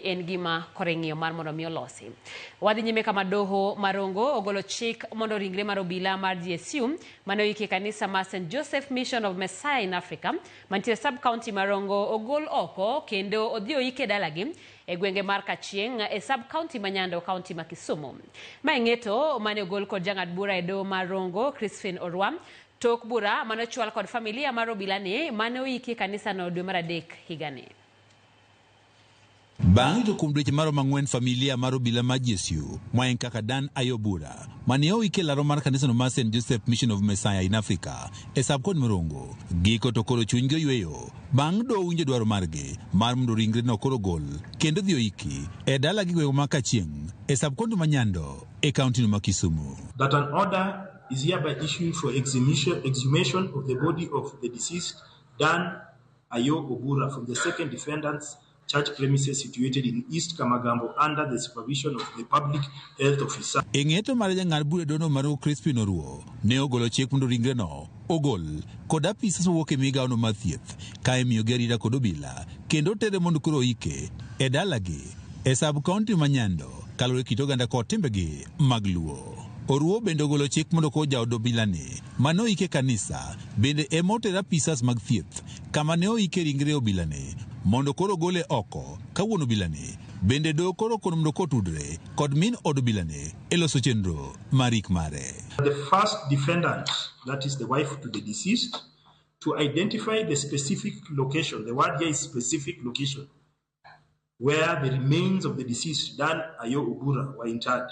en gima kore ng'iyo mar mondo mi olosi. Wadhi nyime kama doho marongo ogolo chik mondo ringre mar obila mar GSU mane oiki e kanisa mar St Joseph Mission of Messiah in Africa mantiere sub county marongo ogol oko kendo odhi oike dalagi e gwenge mar Kachieng e sub county ma Nyando county ma Kisumu. Ma e ng'eto mane ogol kod jang'ad bura e doho mar Rongo Crispin Orwa tok bura mane ochwal kod familia mar obila ni mane oiki e kanisa no dwe mar adek higani. Bang' ito kuom dweche maromo ang'wen familia mar obila ma GSU ma en kaka Dan Ayobura mane oik e laro mar kanisano mar St Joseph Mission of Messiah in Africa e sub kod Murongo giko to koro chunygi oyweyo bang' doho winjo dwaro margi mar mondo ringre no koro ogol kendo dhi oiki e dala gi gwengwa ma Kachieng e sub kondu ma Nyando e kaunti no ma Kisumu. That an order is hereby issued for exhumation of the body of the deceased Dan Ayo Obura from the second defendant's church premises situated in East Kamagambo under the supervision of the public health officer. E ng'eto mare jang'ad bura dono Maru Crispin Oruo ne ogolo chik mondo ringreno ogol kod apisas mowuok e migawono mar thieth ka imiyogi arita kod obila kendo otere mondo koro oike e dalagi e sub kaunti ma Nyando kaluwore kit oganda kod timbegi mag Luo. Oruo bende ogolo chik mondo koro jaod obilani ma noyik e kanisa bende ema oter apisas mag thieth kama ne oike ringre obilani mondo koro ogole oko ka wuon obilani bende do koro kon mdo kotudre kod min od obilani e loso chenro mar yik mare. The first defendant, that is the wife to the deceased, to identify the specific location, the word here is specific location, where the remains of the deceased Dan Ayo Obura were interred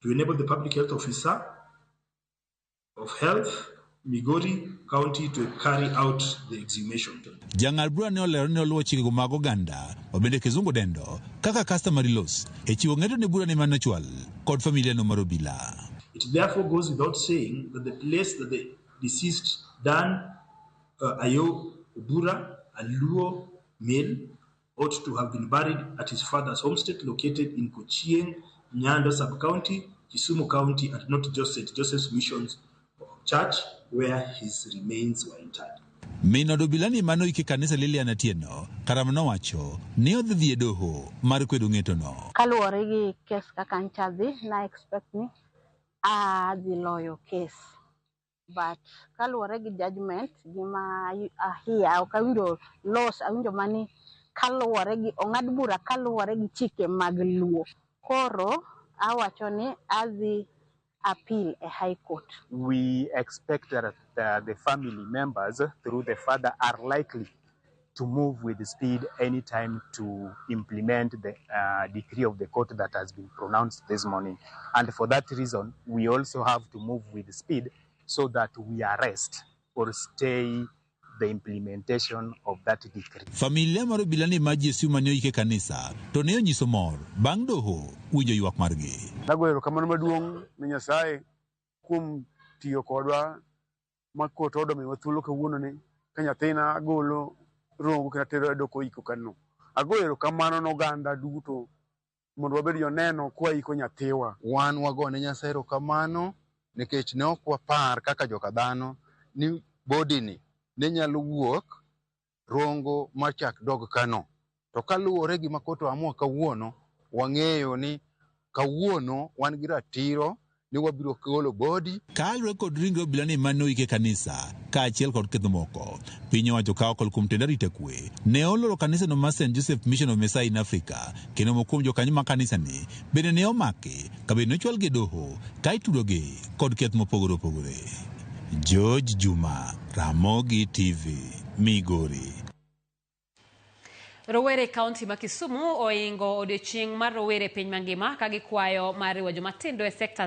to enable the public health officer of Health, Migori County to carry out the exhumation. Jang'ad bura ne olero ni oluwo chikego mag oganda ma bende Kizungu dendo kaka customary laws e chiwo ng'eto ne burani mane ochwal kod familia no mar obila. It therefore goes without saying that the place that the deceased Dan uh, Ayo Obura, a Luo male, ought to have been buried at his father's homestead located in Kochieng, Nyando sub-county, Kisumu County, and not just St. Joseph's Missions Church where his remains were interred. Min od obila ni mano ike kanisa Lilian Atieno Karam nowacho ni odhi dhi e doho mar kwedo ng'etono. Kaluwore gi kes kaka ncha dhi, na expect ni adhi loyo kes. But kaluwore gi judgment gi ma ahiya ok awinjo laws awinjo mani kaluwore gi ong'ad bura kaluwore gi chike mag luo. Koro awacho ni adhi appeal e high court. We expect that the family members through the father are likely to move with speed anytime to implement the uh, decree of the court that has been pronounced this morning. And for that reason, we also have to move with speed so that we arrest or stay the implementation of that decree. Familia mar obila ni maji esiw mane oike kanisa to ne onyiso mor bang' doho winjo ywak margi. Nago erokamano maduong' ne Nyasaye kuom tiyo kodwa ma kot odo miwa thuolo kawuono ni ka nyathina agolo rongo kendo atero e doko iko kano. Ago erokamano ne oganda duto mondo wabed joneno kwa iko nyathiwa. Wan wago ne Nyasaye erokamano nikech ne ok wapar kaka joka dhano ni body ni ne nyalo wuok rongo ma chak dog kano. To kaluwore gi makoro to amua kawuono, wang'eyo ni kawuono wan gi ratiro ni wabiro golo body. Kalure kod ringre obila ni mane oik e kanisa kaachiel kod ketho moko, piny owacho ka okalo kuom tend arita kwe ne oloro kanisa no mar Saint Joseph Mission of Messiah in Africa kendo moko kuom jokanyo mag kanisa ni bende ne omaki kabende ne ochwal gi e doho ka itudo gi kod keth mopogore opogore. George Juma, Ramogi TV. Migori. Rowere e kaunti ma Kisumu oingo odiochieng' mar rowere e piny mangima ka gikwayo mar riwo jomatindo e sektas